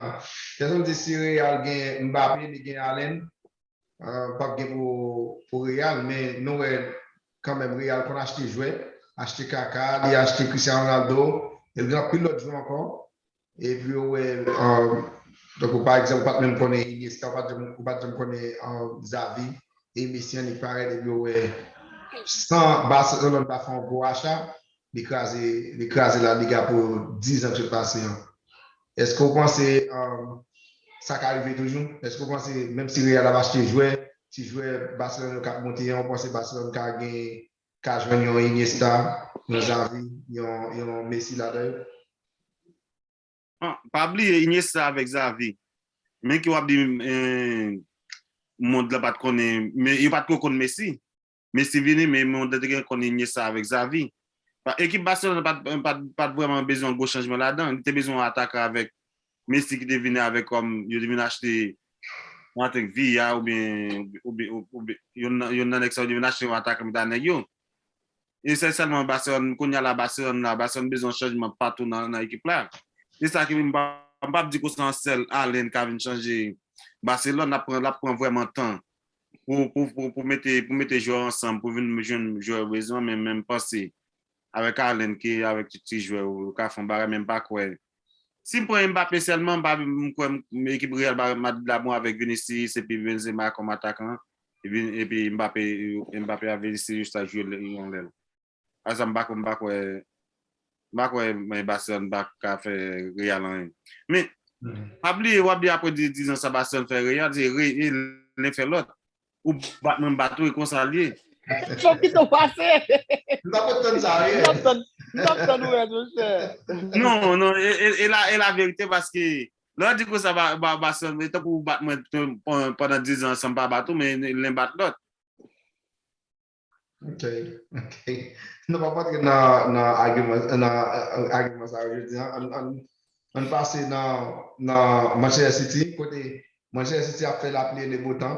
Kèson m di si Real gen Mbappé li gen Haaland pap gen pou Real men nou wè kanmenm Real konn achte jwè achte Kaka li achte Christian Ronaldo e gen anpil lòt jwè ankò epi ou wè tankou pa egzanp ou pat menm konnen Iniesta ou pat janm konnen Xavi e Messi annik parèt epi ou wè san Barcelone pa fè yon gwo acha li kraze La Liga pou 10 an ki sot pase an. Eske w panse sa ka rive toujou? Eske w panse menm si Real ap achte jwè, ti jwè Barcelone yo k ap monte an, ou panse Barcelone ka gen, ka jwenn yon Iniesta, yon Xavi, yon Messi ladan yo? Pa bliye Iniesta avèk Xavi, men ke w ap di mond la pa t konnen, men yo pa t ko konn Messi. Messi vini men mwen te gen konn Iniesta avèk Xavi. Ekip Barcelone pat vrèman bezwen yon gwo chanjman ladan, li te bezwen yon atakan avèk Messi ki te vini avèk kòm yo te vin achte mwen think Villa oubyen yonn nan nèg sa yo te vin achte yon atakan pita nèg yo. E se sèlman Barcelone, kounya la Barcelone la, Barcelone bezwen yon chanjman patou nan ekip la. Se sa ki m pap di kou se yon sèl Haaland ka vin chanje Barcelone, lap pran vrèman tan pou mete jwè ansanm pou vin jwenn jwè ou bezwen men men panse avèk Haaland ke avèk tout ti jwè ou ou ka fè yon bagay men mpa kwè si m pran Mbappé sèlman mpa kwè ekip Real Madrid la bon avèk Vinicius epi Benzema kòm atakan epi Mbappé avèk Vinicius ta jwe yon lèl. Asa m pa kwè m pa kwè m pa kwè Barcelone pa ka fè Real anyen men pa bliye wap di aprè 10 ans sa Barcelone fè Real se re e len fè lòt ou bat mwen m bat ou e konsa l ye. Fòk ki tou pase. M ta pot tann sa wi. M tap tann ou rèd monchè. Non non e la e la verite paske lè w di konsa Barcelone se tankou ou bat mwen pandan 10 ans san m pa bat ou men len bat lòt. Ok, ok. Nou pa patre nan agiman sa yo jodi an. An pase nan Manchester City, kote Manchester City ap fè lapli e le bo tan.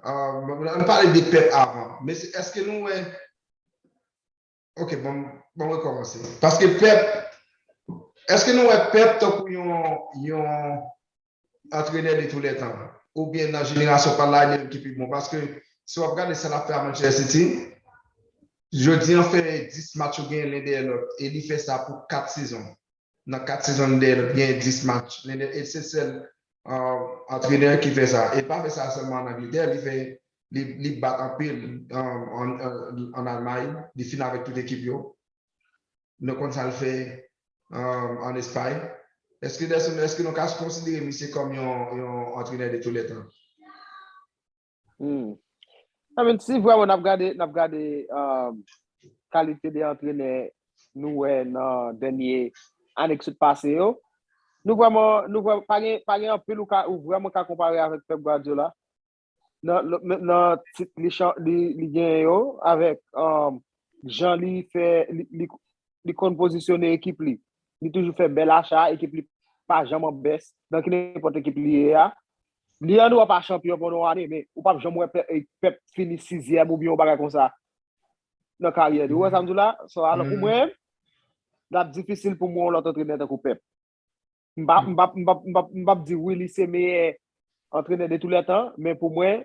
An pale de Pep avan. Mesye, eske nou wè Ok bon bon rekomanse. Paske Pep, eske nou wè Pep tankou yon yon antrenè de tou lè tan? Ou byen nan jenerasyon pa la e menm ki pi bon? Paske si wap gade sa lap fè a Manchester City, jodi an fè 10 match yo genyen len dèyè lòt e li fè sa pou 4 sezon. Nan 4 sezon li dèyè nou ki genyen 10 match. Li e se sèl antrenè ki fè sa. E pa fè sa sèlman an Angletè, li fè li bat anpil an Almay, li fin avèk tout ekip yo. Nou konn sa l fè an Espay. Eske Delson, eske nou ka konsidere misye kòm yon antrenè de tou lè tan? Hmm. I mean, si vreman nap gade, nap gade um, kalite de antrenè nou wè nan dènye ane ki sot pase yo, nou vreman, nou vreman, pa gen, pa gen anpil ou ka, ou vreman ka konpare avèk Pep Guardiola nan, nan, nan tit li, chan- li, li gen yo, avèk um, jan li fè, li, li, li konn pozisyone ekip li. Li toujou fè bèl acha, ekip li pa janman bès, nan ki nenpòt ekip li ye a. Leandro pa chanpyon pandan yon ane, men ou pap janm wè Pep fini sizyèm oubyen yon bagay konsa nan karyè li. Ou wè sa m di w la? So alò pou mwen, l ap difisil pou m wè yon lòt antrenè tankou Pep. M pa m pa m pa m pap di wi li se meyè antrenè de tou lè tan, men pou mwen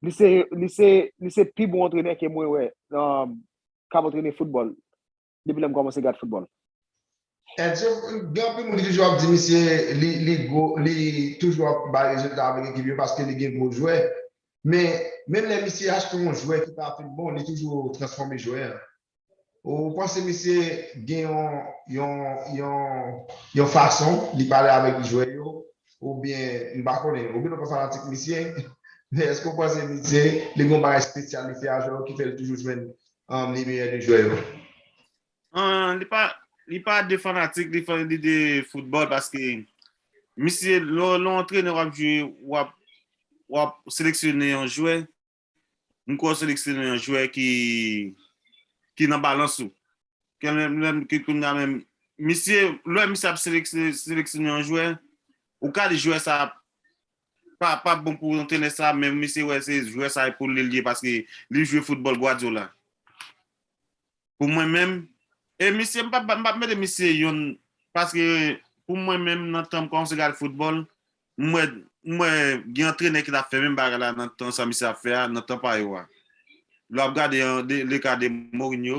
li se li se li se pi bon antrenè ke mwen wè k ap antrene foutbòl depi lèm kòmanse gad foutbòl. Edson, gen anpil moun ki toujou ap di misye li gwo, li toujou ap bay rezilta avèk ekip yo paske li gen gwo jwè. Men, menm lè misye achte yon jwè ki pa fin bon, li toujou transfòme jwè an. Ou panse misye gen yon yon fason li pale avèk jwè yo oubyen m pa konnen, oubyen nou pa fanatik misye, men èske ou panse misye li gen yon bagay espesyal li fè a jwè yo ki fè li toujou jwenn An li meyè de jwè yo? Li pa de fanatik li fè li de foutbòl paske misye lè w antrenè w ap jwe w ap seleksyone yon jwè m kwè w seleksyone yon jwè ki nan balans ou misye lè misye ap seleksyone yon jwè ou ka di jwè sa Pa pa bon pou antrenè sa menm li se wè se jwè sa epol li lye paske li jwe foutbòl Guardiola pou mwen menm e misye m pap m pap mete misye yon paske pou mwen menm nan tanm kòmanse m gad foutbòl m wè m wè gen antrenè ki tap fè menm bagay la nan tan sa misye ap fè a nan tan pa yo a lè wap gade le ka de Mourinho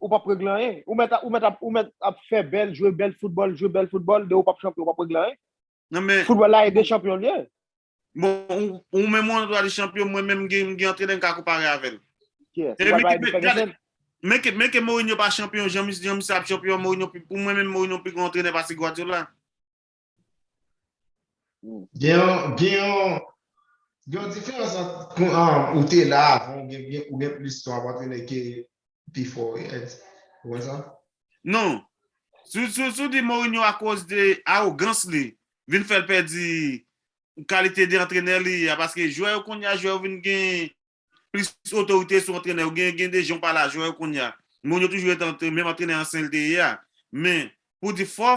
ou pap regle anyen. Ou mèt ou mèt ap ou mèt ap fè bèl, jwe bèl foutbòl, jwe bèl foutbòl, de ou pap chanpyon, ou pap regle anyen. Nan men, Foutbòl la ede chanpyon l ye. bon, ou, ou menm ou antre ale chanpyon, mwen menm m gen, m gen antrenè m ka konpare avè l. Kiyès? Ou E pral men, pale de men, gade, Ferguson? men ke, men ke Mourinho pa chanpyon, jan mis, jan misye ap chanpyon an, Mourinho pi, pou mwen menm Mourinho pi gran antrenè pase Guardiola. Gen yon, gen yon, gen yon diferans ant pou an ou te la avan ou gen, ou gen plis ton ap antrene ke pi fò ou ye. Ou wè sa? Non. Si, si, si w di Mourinho akoz de awogans li vin fè l pèdi kalite de antrenè li a paske jwè yo kounye a, jwè yo vin gen plis otorite sou antrenè yo. Gen, gen de jan w pale a jwè yo kounye a. Mourinho toujou rete menm antrenè ansyen li te ye a. Men, pou w di fò,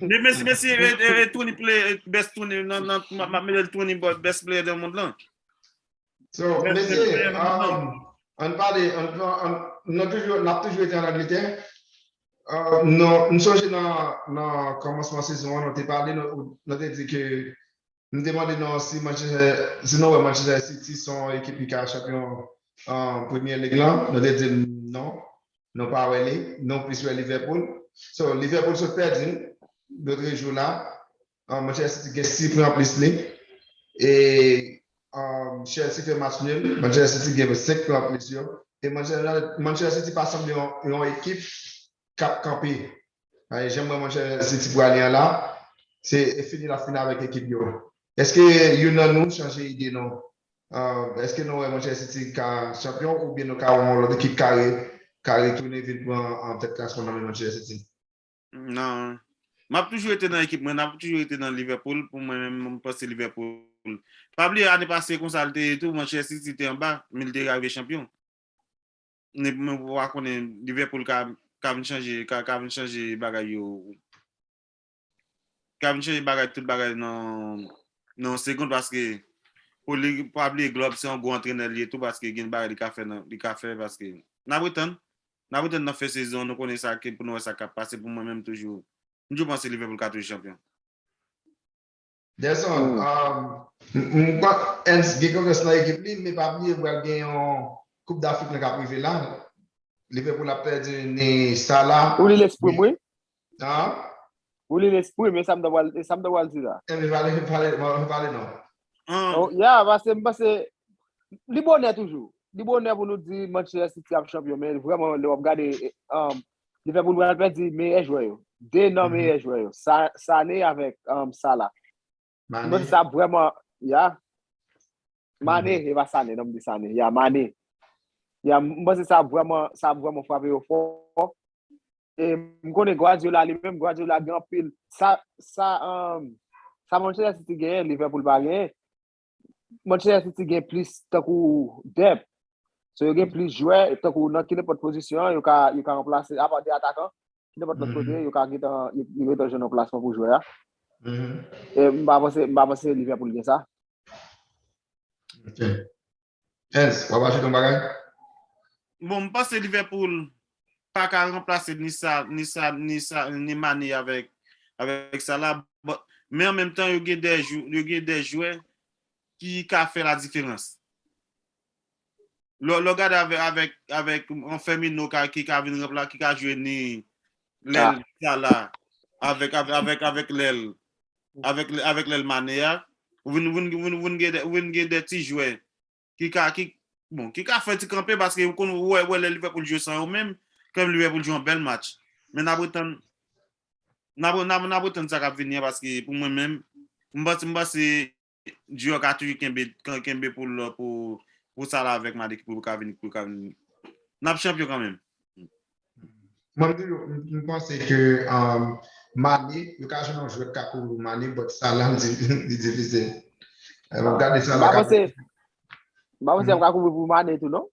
Men mesi mesi e Tony play best Tony nan nan ma mele Tony but best player de mond lan. So mesi an pale an nan toujou nan toujou ete an Angletè. Non m sonje nan nan kòmansman sezon an nou te pale nou te di ke M te mande nou si nou wè Manchester City se yon ekip ki ka chanpyon Premier League lan, nou te di m non, nou pa wè li, nou plis wè Liverpool. So, Liverpool sot pèdi l lotre jou la, Manchester City gen 6 pwen anplis li e Chelsea fè match nul, Manchester City gen 5 pwen anplis yo e Manchester City pa sanble yon ekip k ap kanpe Ay jem wè monchè City prale an la se fini lap fini avèk ekip yo eske youn nan nou chanje ide non eske nou wè monchè City ka chanpyon oubyen nou ka wè yon lòt ekip ka ka retounen vin pran tèt klasman nan men monchè City? Nan Map toujou rete nan ekip mwen nap toujou rete nan Liverpool pou mwen menm m panse Liverpool pa bliye ane pase konsa li te ye tou monchè City te anba men li te rive chanpyon. Mwen pa konnen Liverpool ka ka vin chanje ka ka vin chanje bagay yo ka vin chanje bagay tout bagay nan nan yon segond paske pou li pa bliye Klopp se yon gwo antrenè li ye tou paske gen bagay li ka fè nan li ka fè paske n ap retann n ap retann nan fen sezon nou konnen sa ki pou nou wè sa k ap pase pou mwen menm toujou m toujou panse Liverpool ka toujou chanpyon. Gerson, m kwè Hens gen konfyans nan ekip li, men pa bliye pral gen yon koup dAfrik lan kap rive la, Liverpool ap pèdi ni Salah, ni. Ou li lesprim wi. An? Ou li lesprim, e sa m ta pral, e sa m ta pral di la. E m pale, m pale, m pa pale non. An? Ya, pase m panse, li bonè toujou, li bonè pou nou di Manchester City ap chanpyon, men vrèman lè wap gade Li fè moun pral pèdi meyè jwè yo. 2 nan meyè jwè yo. Sa, Sané avèk um, Salah. Mwen panse Mané. sa ap vrèman, ya. Mané, e pa Sané, non m di Sané. Ya, Mané. Ya, m panse sa ap vrèman, sa ap vrèman frape yo fò. E m konnen Guardiola li menm, Guardiola gen anpil. Sa, sa, um, sa Manchester City genyen, Liverpool pa genyen. Manchester City gen plis tankou dep. So yo gen plis jwè, tankou nan ki nepot pozisyon, yo ka remplase, apa de atakan, ki nepot lòt kote, yo ka gen tan, yo gen tan jwenn yon plasman pou jwè a. E m pa panse, m pa panse Liverpool gen sa. Ok. Hens, w ap ajoute yon bagay? Bon, m panse Liverpool paka ranplase ni sa ni sa ni sa ni mane avèk avèk sa la but men an menm tan yo gen de jou yo gen de jwè ki ka fè la diferans lè w gade avèk avèk avèk yon fèmino ka ki ka vin ranpla ki ka jwe ni lè l sa la avèk avèk avèk lè l avèk avèk lè l mane a ou vin ou vin ou vin gen de ti jwè ki ka ki bon ki ka fè ti kanpe paske ou konn wè wè lè Liverpool jwe san yo menm klèb Liverpool jwe yon bèl match men nap retann nap nap retann sa kap vini an paske pou mwen menm m panse m panse Dior ka toujou kenbe kenbe pou l pou pou Salah avèk Mané pou yo ka vini pou yo ka vini nap chanpyon kanmenm Mwen toujou m panse ke Mané yo ka jwenn yon jwèt ka kouvri Mané but Salah m di li difisil. Map gade Salah ka kouvri. M pa panse yap ka kouvri pou Mané tou non.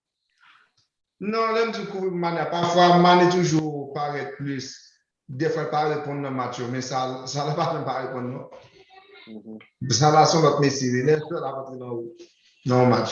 Non lèm di kouvri pou Mané pafwa Mané toujou parèt plis defwa l pa reponn nan match yo men Salah pa janm pa reponn non. Salah son lòt mesye wi lèl fèl ap antre nan yon match.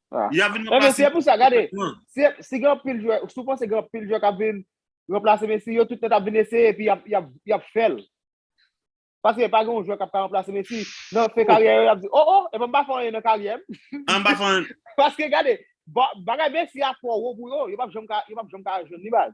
Ya vin nan pase. Se pou sa gade. Si gen pil jwè, sou panse gen pil jwè ka vin remplase Messi, yo tout net ap vin eseye epi yap fèl. Paske pa gen yon jwè kap ka remplase Messi. Nan fen karyè yo yap di, oh oh, epi mpa fè anyen nan karyè m. Mpa fè anyen. Paske gade, bagay Messi a twò wo pou yo, yo pap janm ka jwenn li baz.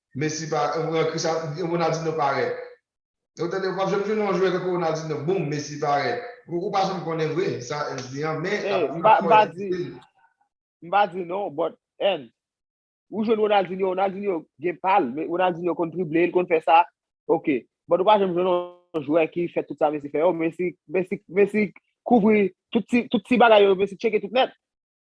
Messi pa yon Cristiano yon Ronaldinho parèt. Ou tande ou pap janm jwenn yon jwè tankou Ronaldinho boom Messi parèt. Ou pa janm konnen vre sa Ernst di an men lap di lap fò di. M pa di non but Ernst ou jwenn Ronaldinho, Ronaldinho gen pal men Ronaldinho konn drible li konn fè sa ok but ou pa janm jwenn yon jwè ki fè tout sa Messi fè yo Messi Messi Messi kouvri tout ti bagay yo Messi tcheke tout nèt.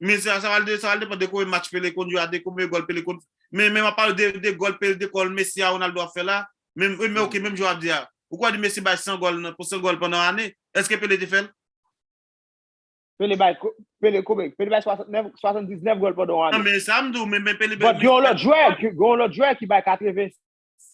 Men sa sa pral sa pral depan de konbyen match Pele konn jwe a de konbyen gòl Pele konn men men wap pale de de gòl Pele de gòl Messi a Ronaldo ap fè la men wi men ok menm jan wap di a ou kwè di Messi bay 100 gòl nan pou 100 gòl pandan ane èske Pele te fèl? Pele bay Pele konbyen Pele bay 69 79 gòl pandan yon ane nan men sa m di w men men Pele bòt gen yon lòt jwè gen yon lòt jwè ki bay 80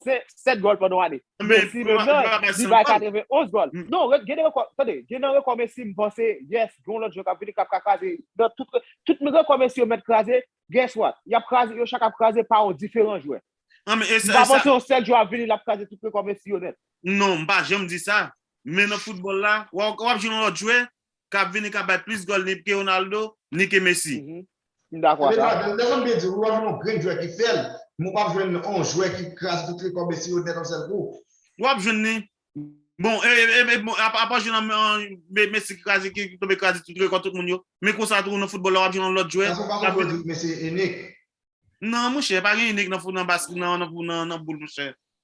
7 gòl pandan yon ane. Messi menm nan, li bay 91 gòl. Non, gen nan rekò, tande, gen nan rekò Messi m panse, yes, gen yon lòt jwè k ap vini k ap ka kraze. Nan tout, tout rekò Messi yo mèt kraze, guess what? Y ap kraze, yo chak ap kraze pa yon diferan jwè. M pa panse yon sèl jwè ap vini l ap kraze tout rekò Messi yo nèt. Non, m pa janm di sa. Men nan foutbòl la, w ap jwenn yon lòt jwè, kap vini kap bay plis gòl ni ke Ronaldo, ni ke Messi. M dakò ak sa. Ebyen Jason byen di wi wap jwenn yon grenn jwè ki fèl, men ou pap jwenn yon jwè ki kraze tout rekò Messi yo nèt yon sèl kou. Wap jwenn li. Bon apa jwenn an Messi ki kraze ki tonbe kraze tout rekò tout moun yo, men konsa tou nan foutbòl la wap jwenn yon lòt jwè. Jason pa fè pou yo di Messi inik. Non monchè, pa gen inik nan boul monchè.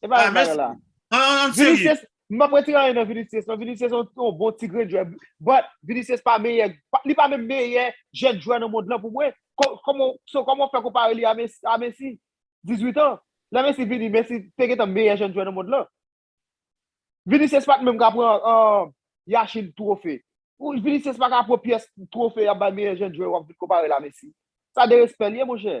E pa yon bagay la. An serye. M pa prete anyen nan Vinicius non. Vinicius se yon bon ti grenn jwè. But, Vinicius pa meyè, li pa menm meyè jèn jwè nan mond lan pou mwen. So, kòman w fè konpare li a Messi? 18 an. Lè Messi vini, Messi te gentan meyè jèn jwè nan mond lan. Vinicius pa t menm ka pran Yashin twofe. Vinicius pa ka pran pyès twofe y ap bay meyè jèn jwè w ap vin konpare l a Messi. Sa derespè li ye monchè.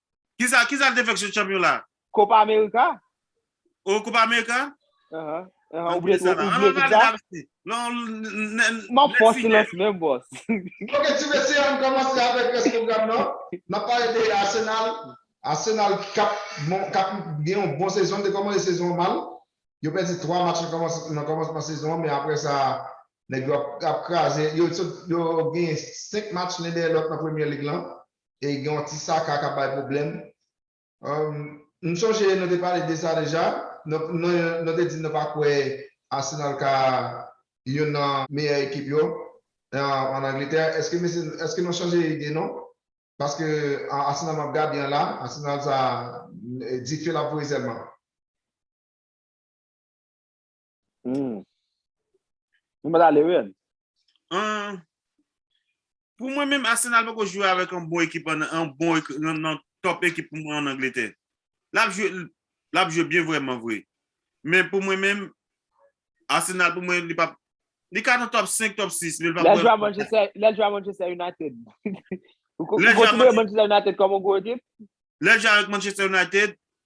Kisa kisa l te fè ak se chanpyon la? Copa America. Oh Copa America? Uh-huh. Uh-huh. Ou bliye tout, ou bliye tout sa? Non, nèg. M'ap fè yon silans menm boss. Ok ti mesye ann kòmanse avèk rès pwogram nan. N'ap pale de Arsenal. Arsenal k'ap bon k'ap gen yon bon sezon, li te kòmanse sezon an mal. Yo pèdi 3 match nan kòmansman sezon an men aprè sa nèg yo ap kraze, yo sot yo genyen 5 match len dèyè lòt nan Premier League lan. E gen yon ti saka kap bay pwoblèm. M sonje nou te pale de sa deja. Nou te di nou pa kwè Arsenal ka youn nan meyè ekip yo an Angletè. Eske nou chanje ide nou? Paske Arsenal map gade an la, Arsenal sa dife lap voye sèlman. Hmm. Nou mwen ale wè. An. Pou mwen menm Arsenal poko jwe avèk an bon ekip an an bon nan top ekip pou mwen an Angletè. Lap jwe lap jwe byen vwèman vwe. Men pou mwen menm Arsenal pou mwen li pap li ka nan top 5, top 6. Lè l jwe a Manchester, lè l jwe a Manchester United. Ou konsidere Manchester United kòm an gwo ekip? Lè l jwe avèk Manchester United,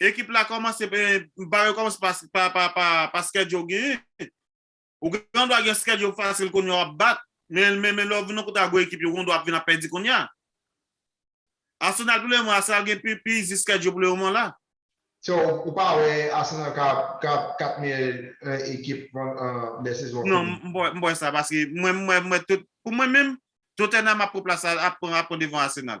Ekip la komanse ben m pare komanse pa schedule ou genyen ou gen dwa gen schedule fasil kounya wap bat men men lè ou vin nan kote a gwo ekip yo gen dwa ap vin ap pèdi kounya Arsenal pou le moman Arsenal gen pi pi easy schedule pou le moman la. So ou pa wè Arsenal ka ap 4 meyè ekip lè sezon an fini? Non m p wè sa paske mwen m wè tout pou mwen menm Tottenham ap pran plas ap pran devan Arsenal.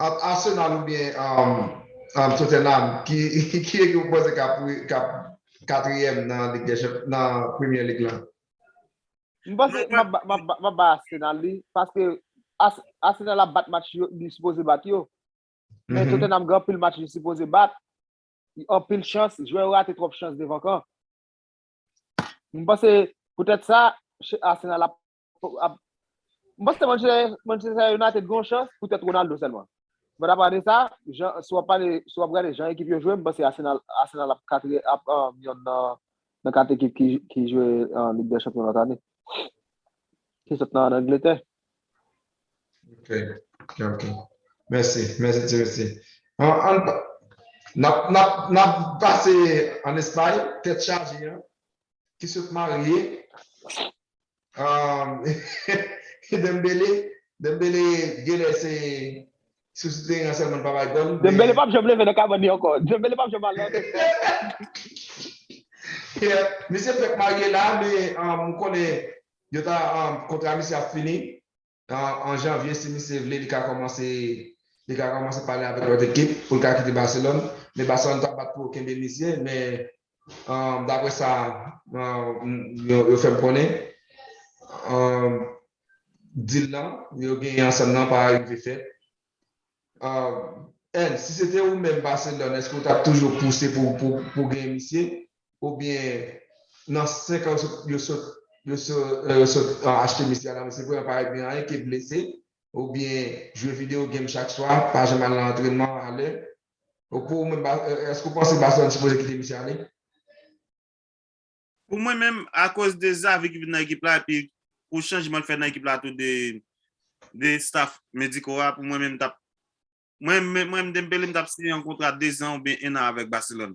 Ant Arsenal oubyen Tottenham ki ekip ou panse kap 4 yèm nan Premier League lan? M panse map bay Arsenal li paske Arsenal ap bat match li sipoze bat yo men Tottenham gen anpil match li sipoze bat anpil chans jwè yo rate twòp chans devan kan m panse poutèt sa Arsenal ap M panse Manchester United gen yon chans pou tèt Ronaldo sèlman. But apa de sa, si wap pale, si wap gade jan ekip yo jwe, m panse Arsenal ap katriyèm, ap yonn nan kat ekip ki jwe Lig dè Chanpyon lòt ane. Ki sot nan Angletè. Ok, ok. Mèsi, mèsi ti mesye. Nap pase an Espay, tèt chaje an, ki sot marye. Dembele Dembele genlè se sou ti teren an sèlman li pa bay gòl men Dembele pap janm leve nan kabann li ankò Dembele pap janm al nan lòt estad Misye fèk marye la men m konnen yo ta kontra misye ap fini. An janvye si misye vle li ka kòmanse li ka kòmanse pale avèk lòt ekip pou l ka kite Baselòn men Baselòn pa bat pou yo kenbe misye men daprè sa yo fè m konnen dil lan yo genyen ansanm nan pa rive fèt N, Si se te ou menm Barcelone èske ou tap toujou pouse pou gen misye oubyen nan 5 an yo sot yo sot achte misye a nan misye pou yo pa regle anyen ke blese oubyen jwe video game chak swa pa janm al nan antrenman a lè pou ou menm èske ou panse Barcelone sipoze kite misye ale? Pou mwen menm akoz de Xavi ki vin nan ekip la epi pou chanjman l fè nan ekip la tou de staff mediko a pou mwen menm tap mwen menm Dembele m tap siyen yon kontra 2 zan oubyen 1 an avèk Barcelone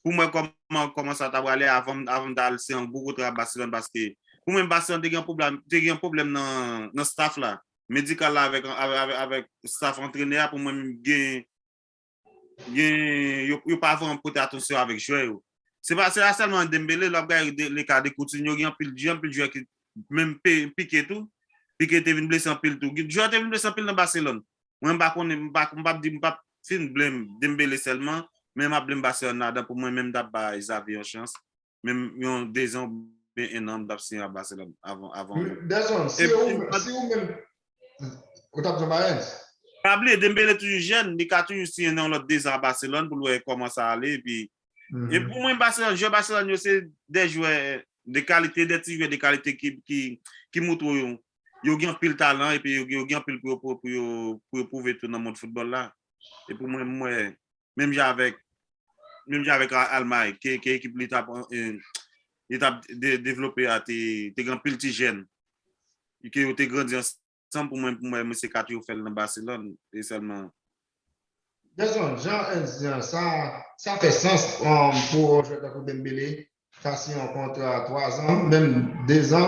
pou m wè kòman kòman sa ta prale avan m ta al siyen yon gwo kontra ak Barcelone paske pou mwen Barcelone te gen yon pwoblèm te gen yon pwoblèm nan staff la medikal la avèk staff antrenè a pou mwen menm gen yo pa vrèman pote atansyon avèk jwè yo. Se pa sèlman Dembele, lè w ap gade le ka de Coutinho, gen anpil jwè ki menm Piqué tou, Piqué te vin blese anpil tou. Gen jwè te vin blese anpil nan Barcelone. Mwen m pa konnen, m pa ap di, m pa ap fin blame Dembele sèlman, men m ap blame Barcelone ladan pou mwen menm m ta bay Xavi yon chans. menm yon dezan oubyen ennan m tap siyen a Barcelone avan avan ou. Dezan si ou si ou menm ou tap jwenn Mayens? Pa bliye Dembele toujou jèn, li ka toujou siyen nan yon lòt dezan a Barcelone pou l wè kòman sa ale epi e pou mwen Barcelone jwè Barcelone yo se de jwè de kalite de ti jwè de kalite ki ki ki moutre w yo gen anpil talan epi yo gen anpil pou yo pou yo pou yo pwouve tou nan mond foutbòl la e pou mwen m wè menm jan avèk menm jan avèk Almay ke ekip li tap li tap devlope a te gen anpil ti jèn ke yo te grandi ansanm pou mwen pou mwen mesye 4 yo fèl nan Baselòn e sèlman. Gerson, jan Ernst di an sa sa fè sans pou yon jwè tankou Dembele Sa siyen yon kontra 3 zan, menm 2 zan,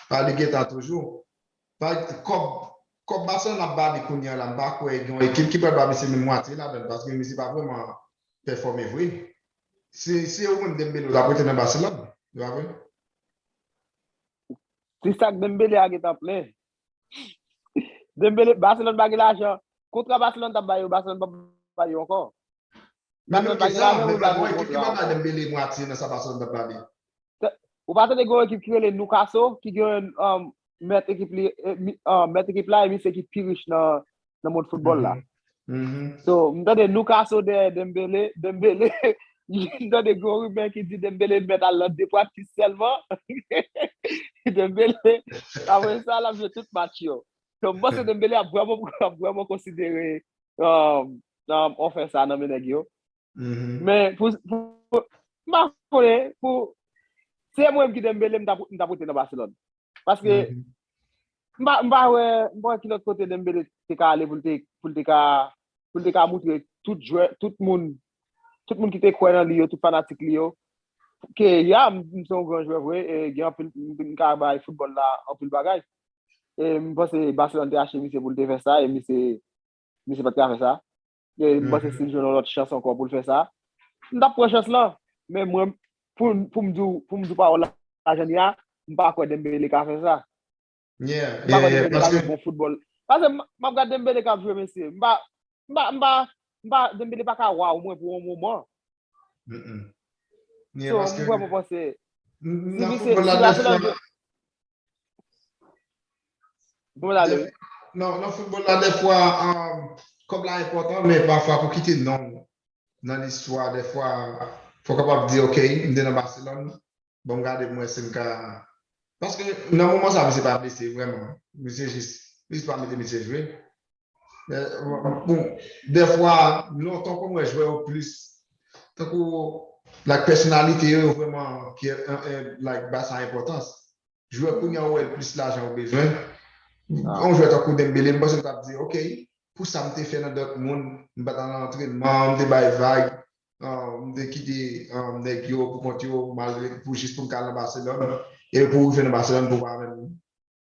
pa li gentan toujou. Kòb Barcelone ap ba li kounye a la, m pa kwè gen yon ekip ki pral ba misye menm mwatye ladan l paske misye pa vrèman pèfòme vre. Si se yo menm Dembele yo t ap rete nan Barcelone, se pa vre? Ti sak Dembele a gentan plen, Dembele, Barcelone pa gen lajan. Kontra Barcelone tap ba yo, Barcelone pap ba yo ankò. Nan menm ke sa, menm la gon ekip ki pa ba Dembele mwatye nan sa Barcelone tap ba li. Ou pa tande gen yon ekip ki rele Newcastle ki gen mèt ekip li, mèt ekip la e misye ki pi rich nan nan mond foutbòl la. So, m tande Loukaso dèyè Dembele, Dembele, m tande gwo rimè ki di Dembele mèt al nan 2 pratik sèlman. Dembele, apre sa, l ap jwe tout match yo. So, m panse Dembele ap vrèman konsidere ofè sa nan men nèg yo. Men, pou, m pa konnen, pou, se mwen ki Dembele, m ta pote nan Barcelone. Paske, m pa wè, m pa wè ki lòt kote Dembele te ka ale pou l te, pou l te ka, pou l te ka moutre tout jwè, tout moun, tout moun ki te kwè nan li yo, tout fanatik li yo, ke ya, m se yon gran jwè vre, e gen anpil, m ka bay foutbòl la anpil bagay. E m panse Barcelone te achte misye pou l te fè sa, e misye, misye pa t ka fè sa. E m panse si l jwenn yon lòt chans ankò pou l fè sa, m t ap pran chans lan. Men mwen, pou m pou m di w, pou m di w pawòl la jan li a, m pa kwè Dembele ka fè sa. Yeah, M pa kwè yeah, yeah. Dembele ka jwe Paske, bon foutbòl. Pase m m ap gad Dembele k ap jwe mesye, m pa m pa m pa m pa Dembele pa ka waw mwen pou yon moman. mm-mm. Yeah, So m paske, vrèman panse, m, si nan li se foutbòl la si a se nan dèfwa, jwe Bon la lè. Non, nan foutbòl la dèfwa kòb la enpòtan men pafwa pou kite non ou nan listwa dèfwa fò w kapab di ok m te nan Baselòn banm gade pou m wè si m ka paske nan moman sa misye pa blese vrèman misye jis misye pa mete misye jwe Bon, dèfwa, lontan konn wè jwè yo plis, tankou, like pèsonalite yo yo vrèman ki like ba sa enpòtans. Jwè kounye a ou wè plis lajan yo bezwen. Yon jwè tankou Dembele, m panse m t ap di ok, pou sa m te fè nan Dortmund, m pa t al nan antrenman, m te bay vag, m te kite nèg yo pou kont yo, malgre pou jis pou m ka al nan Barcelone, e pou ou rive nan Barcelone pou w pa menm